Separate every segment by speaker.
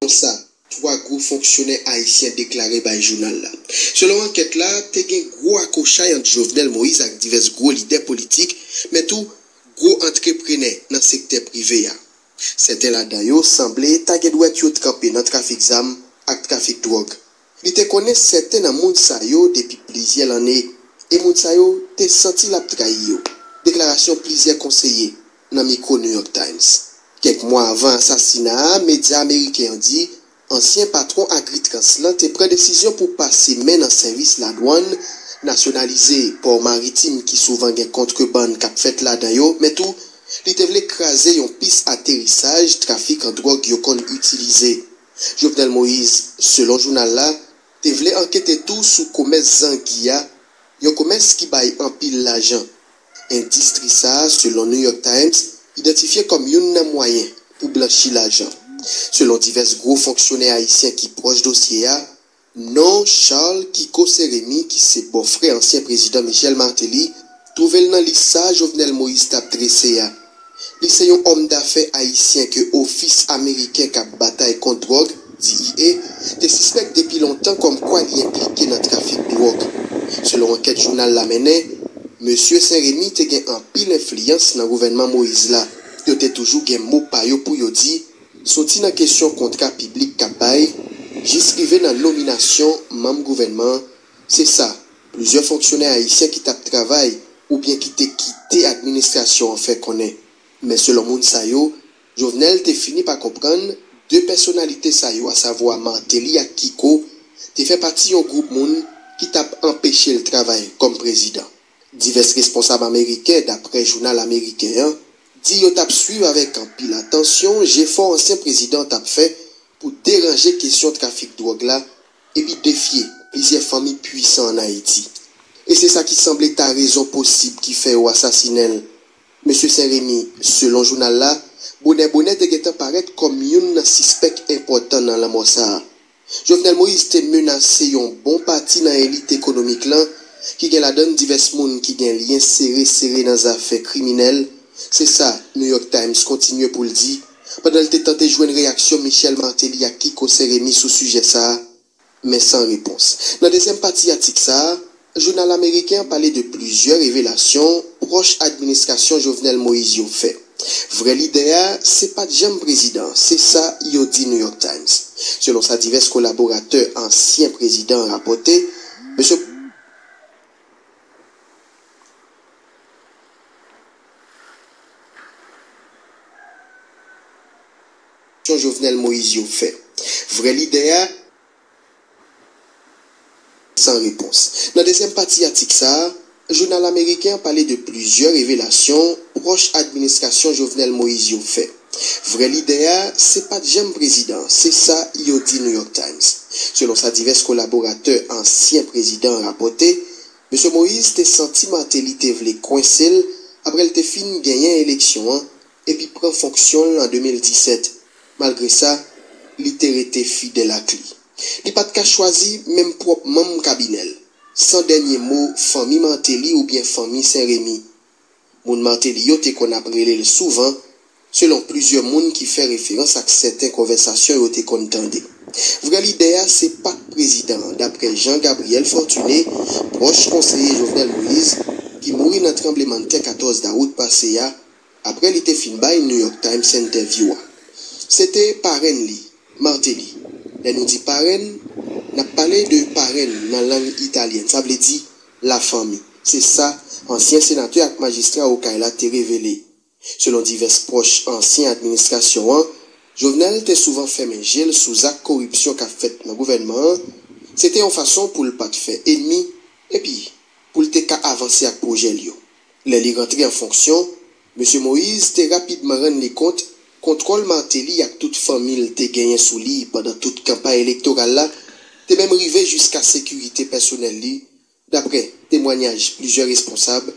Speaker 1: Konsa, 3 gwo fonksyonè ayisyen deklare bay jounal la. Selon ankèt la, te gen gwo akochay ant Jovenel Moïse ak divès gwo lidè politik, men tou gwo antreprenè nan sektè prive a. Sèten ladan yo sanble ta gen dwèt yo tranpe nan trafik zam ak trafik dwòg. Li te konnen sèten nan moun sa yo depi plizyè lanne e moun sa yo te santi l ap trayi yo, deklarasyon plizyè konseye nan mikwo New York Times. Kèk mwa avan asasina a, medya ameriken yo di ansyen patwon Agritrans lan te pran desizyon pou pase men nan sèvis ladwann, nasyonalize pò maritim ki souvan gen kontrebann k ap fèt ladan yo, men tou li te vle kraze yon pis aterisaj trafikan dwòg yo konn itilize. Jovenel Moïse, selon jounal la, te vle ankete tou sou komès zangi a, yon komès ki bay anpil lajan. Endistri sa a, selon New York Times, idantifye kòm youn nan mwayen pou blanchi lajan. Selon divès gwo fonksyonè ayisyen ki pwòch dosye a, Non Charles Kiko Seremi ki se bòfrè ansyen prezidan Michel Martelly twouve l nan lis sa Jovenel Moïse t ap drese a. Li se yon òmdafè ayisyen ke Ofis ameriken k ap batay kont dwòg, DEA, te sispèk depi lontan kòmkwa li enplike nan trafik dwòg. Selon ankèt jounal la mennen, mesye St-Remy te gen anpil enfliyans nan gouvènman Moïse la. Yo te toujou gen mo pa yo pou yo di Soti nan kesyon kontra piblik k ap bay jis rive nan nominasyon manm gouvènman, se sa plizyè fonksyonè ayisyen ki t ap travay oubyen ki te kite administrasyon an fè konnen. Men selon moun sa yo, Jovenel te fini pa konprann 2 pèsonalite sa yo asavwa Martelly ak Kiko te fè pati yon gwoup moun ki t ap anpeche l travay kòm prezidan. Divès responsab ameriken, daprè jounal ameriken an, di yo t ap swiv avèk anpil atansyon jefò ansyen prezidan an t ap fè pou deranje kesyon trafik dwòg la epi defye plizyè fanmi puisan an Ayiti. E se sa ki sanble ta rezon posib ki fè yo asasinen l. Mesye Sen Remi, selon jounal la, bonè bonè te gentan parèt kòm youn nan sispèk enpòtan nan lanmò sa a. Jovenel Moïse te menase yon bon pati nan elit ekonomik lan, ki gen ladann divès moun ki gen lyen sere sere nan zafè kriminèl, se sa New York Times kontinye pou l di, pandan l te tante jwenn reyaksyon Michel Martelly ak Kiko Saint-Rémy sou sijè sa a, men san repons. Nan dezyèm pati atik sa a, Jounal ameriken an pale de plizyè revelasyon pwòch administrasyon Jovenel Moïse yo fè. Vrè lidè a, se pa t janm prezidan, se sa yo di New York Times. Selon sa divès kolaboratè ansyen prezidan an rapòte, M. Jovenel Moïse yo fè. Vrè lidè a. San repons. Nan dezyèm pati atik sa a, jounal ameriken an pale de plizyè revelasyon pwòch administrasyon Jovenel Moïse yo fè. Vrè lide a, se pa t janm prezidan an, se sa yo di New York Times. Selon sa divès kolaboratè ansyen prezidan an rapòte, Mesye Moïse te santi Martelly te vle kwense l aprè l te fin genyen eleksyon an epi pran fonksyon l an 2017. Malgre sa, li te rete fidèl ak li. Li pa t ka chwazi menm pwòp manm kabinè l, san dènye mo fanmi Martelly oubyen fanmi Sen Remi. Moun Martelly yo te konn ap rele l souvan, selon plizyè moun ki fè referans ak sèten konvèsasyon yo te konn tande. Vrè lidè a se pa t prezidan an, daprè Jean Gabriel Fortuné, pwòch konseye Jovenel Moïse, ki mouri nan tranblemanntè 14 dawout pase a Aprè li te fin bay New York Times entèvyou a. Se te parenn li, Martelly. Lè nou di parenn, n ap pale de parenn nan lang italyèn, sa vle di lafanmi. Se sa ansyen senatè ak majistra Okay la te revele. Selon divès pwòch ansyen administrasyon an, Jovenel te souvan fèmen je l sou zak koripsyon k ap fèt nan gouvènman an, se te yon fason pou l pa t fè enmi epi pou l te ka avanse ak pwojè l yo. Lè li rantre an fonksyon, Mesye Moïse te rapidman rann li kont kontwòl Martelly ak tout fanmi l te genyen sou li pandan tout kanpay elektoral la te menm rive jiska sekirite pèsonèl li, daprè temwanyaj plizyè responsab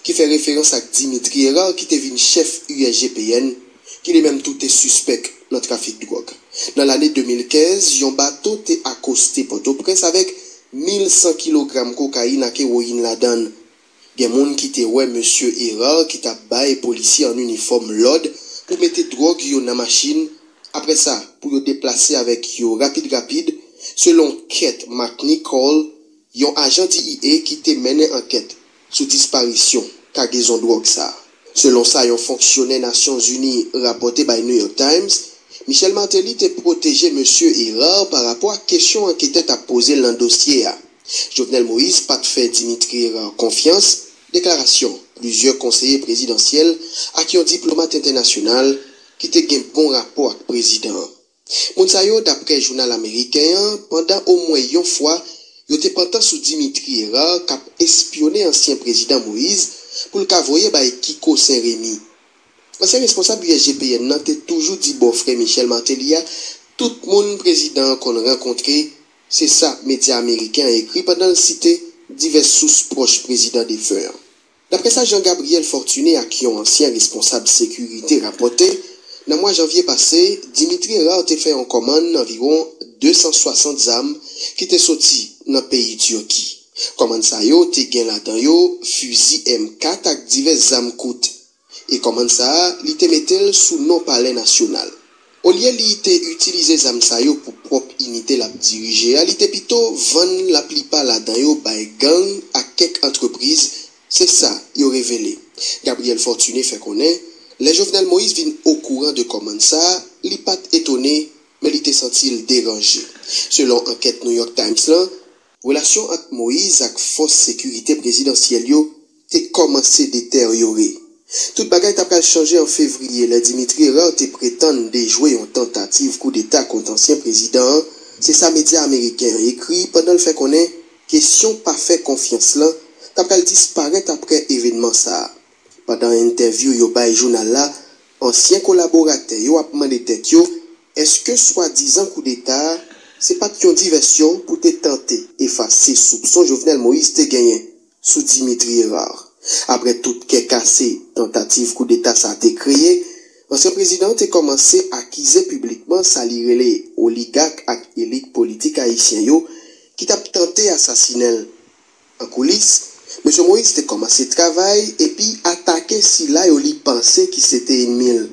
Speaker 1: ki fè referans ak Dimitri Herard ki te vin chèf USGPN ki li menm tou te sispèk nan trafik dwòg. Nan lane 2015, yon bato te akoste Pòtoprens avèk 1,100 kilogram kokayin ak ewoyin ladan l. Gen moun ki te wè mesye Herard ki t ap bay polisye an inifòm lòd pou mete dwòg yo nan machin, aprè sa pou yo deplase avèk yo rapid rapid, selon Kett McNichol, yon ajan DEA ki te mennen ankèt sou disparisyon kagezon dwòg sa a. Selon sa yon fonksyonè Nasyon Zini rapòte bay New York Times, Michel Martelly te pwoteje Mesye Herard pa rapò ak kesyon anketè t ap poze l nan dosye a. Jovenel Moïse pa t fè Dimitri Herard konfyans, deklarasyon plizyè konseye prezidansyèl ak yon diplomat entènasyonal ki te gen bon rapò ak prezidan an. Moun sa yo, daprè jounal ameriken an, pandan omwen yon fwa, yo te pantan sou Dimitri Herard k ap espyone ansyen prezidan Moïse pou l ka voye bay Kiko Sen Remi. Ansyen responsab USGPN nan te toujou di bòfrè Michel Martelly a tout moun prezidan an konn rankontre, se sa medya ameriken an ekri pandan l site divès sous pwòch prezidan defen an. Daprè sa Jean Gabriel Fortuné ak yon ansyen responsab sekirite rapòte, nan mwa janvye pase, Dimitri Herard te fè yon kòmann anviwon 260 zam ki te soti nan peyi Turki. Kòmann sa yo te gen ladan yo fizi M 4 ak divès zam kout. E kòmann sa a, li te mete l sou non palè nasyonal. Olye li te itilize zam sa yo pou pwòp inite l ap dirije a, li te pito vann laplipa ladan yo bay gang ak kèk antrepriz, se sa yo revele. Gabriel Fortuné fè konnen, lè Jovenel Moïse vin okouran de kòmand sa, li pa t etone, men li te santi l deranje. Selon ankèt New York Times lan, Relasyon ant Moïse ak fòs sekirite prezidansyèl yo te kòmanse deteryore. Tout bagay ta pral chanje an fevriye lè Dimitri Hérard te pretann dejwe yon tantativ koudeta kont ansyen prezidan an, se sa medya ameriken an ekri pandan l fè konnen kesyon pa fè konfyans lan ta pral disparèt aprè evènman sa a. Pandan entèvyou yo bay jounal la, ansyen kolaboratè yo ap mande tèt yo èske swadizan koudeta a se pa t yon divèsyon pou te tante efase soupson Jovenel Moïse te genyen sou Dimitri Hérard. Aprè tout kè kase tantativ koudeta sa te kreye, ansyen prezidan an te kòmanse akize piblikman sa li rele oligak ak elit politik ayisyen yo ki t ap tante asasinen l. An koulis, Mesye Moïse te kòmanse travay epi atake sila yo li panse ki se te enmi l.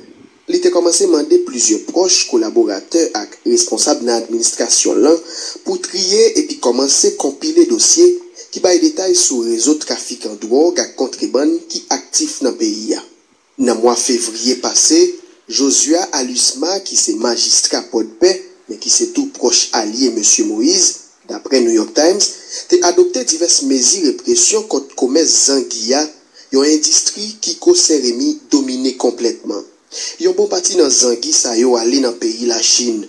Speaker 1: Li te kòmanse mande plizyè pwòch, kolaboratè ak responsab nan administrasyon l lan pou triye epi kòmanse konpile dosye ki bay detay sou rezo trafikan dwòg ak kontrebann ki aktif nan peyi a. Nan mwa fevriye pase, Josia Alusma ki se majistra Pòdpè, men ki se tou pwòch alye Mesye Moise, daprè New York Times, te adopte divès mezi represyon kont komès zangi a, yon endistri Kiko Sen-Remi domine konplètman. Yon bon pati nan zangi sa yo ale nan peyi Lachin.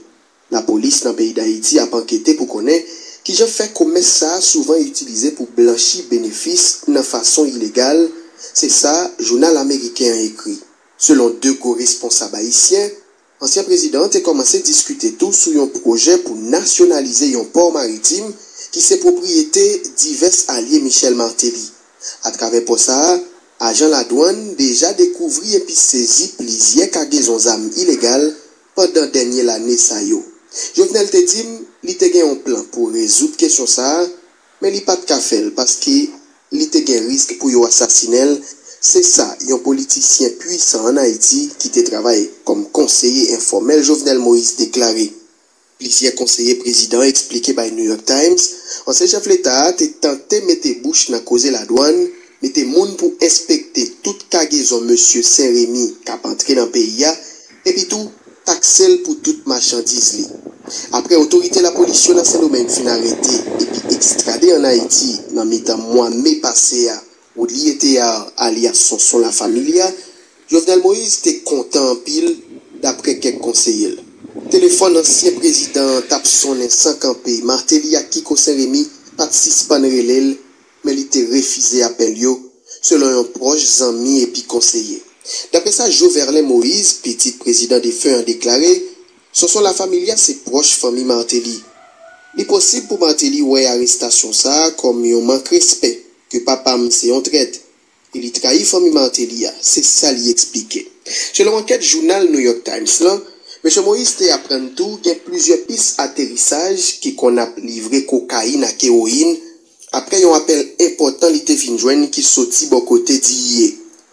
Speaker 1: Lapolis nan peyi Dayiti ap ankete pou konnen kijan fè komès sa souvan itilize pou blanchi benefis nan fason ilegal, se sa jounal ameriken an ekri. Selon 2 gwo responsab ayisyen, ansyen prezidan an te kòmanse diskite tou sou yon pwojè pou nasyonalize yon pò maritim ki se pwopriyete divès alye Michel Martelly. Atravè pò sa, ajan ladwann deja dekouvri epi sezi plizyè kagezon zam ilegal pandan dènye lane sa yo. Jovenel te di m li te gen yon plan pou rezoud kesyon sa a, men li pa t ka fè l paske li te gen risk pou yo asasinen l, se sa yon politisyen puisan ann Ayiti ki te travay kòm konseye enfòmèl Jovenel Moïse deklare. Plizyè konseye prezidan an eksplike bay New York Times ansyen chèf leta a te tante mete bouch nan koze ladwann, mete moun pou enspekte tout kagezon mesye Sen Remi k ap antre nan peyi a, epi tou takse l pou tout machandiz li. Aprè otorite lapolis yo nan Sendomeng fin arete epi ekstrade ann Ayiti nan mitan mwa me pase a Woodlie Théard alyas Sonson La Familia, Jovenel Moïse te kontan anpil, daprè kèk konseye l. Telefòn ansyen prezidan an t ap sonnen san kanpe, Martelly ak Kiko St-Rémy pa t sispann rele l, men li te refize apèl yo, selon yon pwòch zanmi epi konseye. Daprè sa Joverlein Moïse, pitit prezidan defen an deklare, Sonson La Familia se pwòch fanmi Martelly. Li posib pou Martelly wè arestasyon sa a kòm yon mank respè ke papa m se yon trèt, e li trayi fanmi Martelly a, se sa li eksplike. Selon ankèt jounal New York Times lan, Mesye Moïse te aprann tou gen plizyè pis aterisaj ki konn ap livre kokayin ak ewoyin apre yon apèl enpòtan li te fin jwenn ki soti bò kote Diye.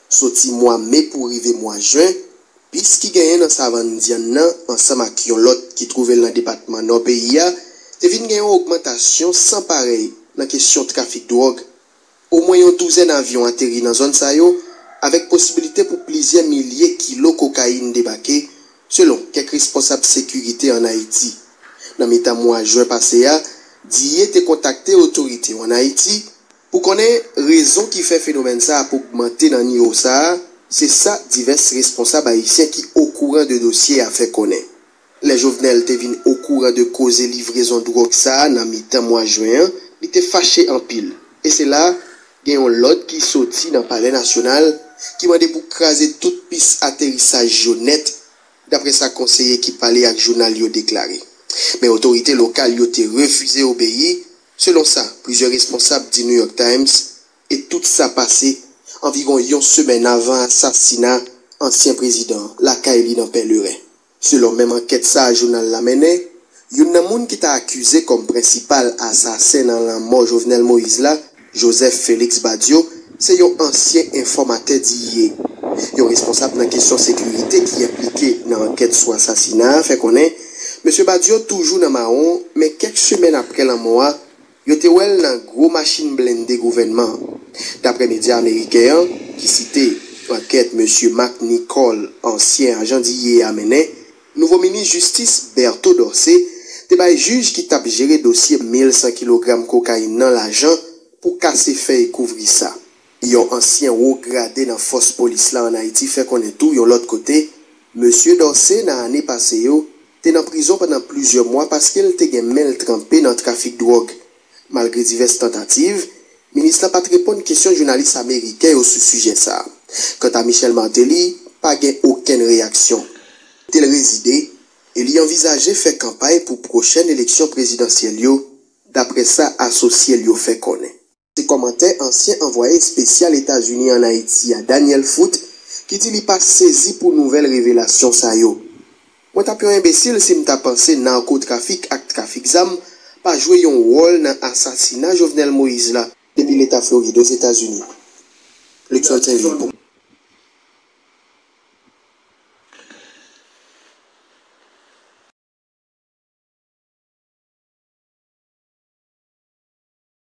Speaker 1: Soti mwa me pou rive mwa jen, pis ki genyen nan Savann Dyann nan ansanm ak yon lòt ki twouve l nan depatman Nò peyi a te vin gen yon ogmantasyon san parèy nan kesyon trafik dwòg. Omwen yon douzèn avyon ateri nan zòn sa yo, avèk posibilite pou plizyè milye kilo kokayin debake, selon kèk responsab sekirite ann Ayiti. Nan mitan mwa jen pase a, DIE te kontakte otorite yo ann Ayiti pou konnen rezon ki fè fenomèn sa ap ogmante nan niwo sa a, se sa divès responsab ayisyen ki okouran de dosye a fè konnen. Lè Jovenel te vin okouran de koze livrezon dwòg sa a nan mitan mwa jen an, li te fache anpil. E se la, gen yon lòd ki soti nan Palè Nasyonal ki mande pou kraze tout pis aterisaj yo nèt, daprè sa konseye ki pale ak jounal yo deklare. Men otorite lokal yo te refize obeyi, selon sa plizyè responsab di New York Times. E tout sa pase anviwon yon semèn avan asasina ansyen prezidan an lakay li nan Pèleren. Selon menm ankèt sa jounal la mennen, youn nan moun ki ta akize kòm prensipal asasen nan lanmò Jovenel Moïse la, Joseph Félix Badio, se yon ansyen enfòmatè di ye. Yon responsab nan kesyon sekirite ki enplike nan ankèt sou asasina a fè konnen, Mesye Badio toujou nan mawon men kèk semèn aprè lanmò a, Yo te wè l nan gwo machin blende gouvènman an. Daprè medya ameriken an, ki site ankèt Mesye Mark Nicole, ansyen ajan DEA mennen, nouvo minis jistis Berto Dorcé te bay jij ki t ap jere dosye 1,100 kilogram kokayin nan lajan pou kase fèy kouvri sa. Yon ansyen wo grade nan fòs polis la an Ayiti fè konnen tou yon lòt kote, Mesye Dorcé nan ane pase yo, te nan prizon pandan plizyè mwa paske l te gen men l tranpe nan trafik dwòg. Malgre divès tantativ, minis la pa t reponn kesyon jounalis ameriken yo sou sijè sa. Kanta Michel Martelly, pa gen okenn reyaksyon. Kote l rezide, e li anvizaje fè kanpay pou pwochèn eleksyon prezidansyèl yo, daprè sa asosye l yo fè konnen. Se kòmantè ansyen anvwaye espesyal Etazini an Ayiti a, Daniel Foot, ki di li pa sezi pou nouvèl revelasyon sa yo. Mwen t ap yon enbesil si m ta panse narkotrafik ak trafik zam pa jwe yon wòl nan asasina Jovenel Moïse la. Depi Leta Florid, Ozetazini. Luckson St. Louis pou.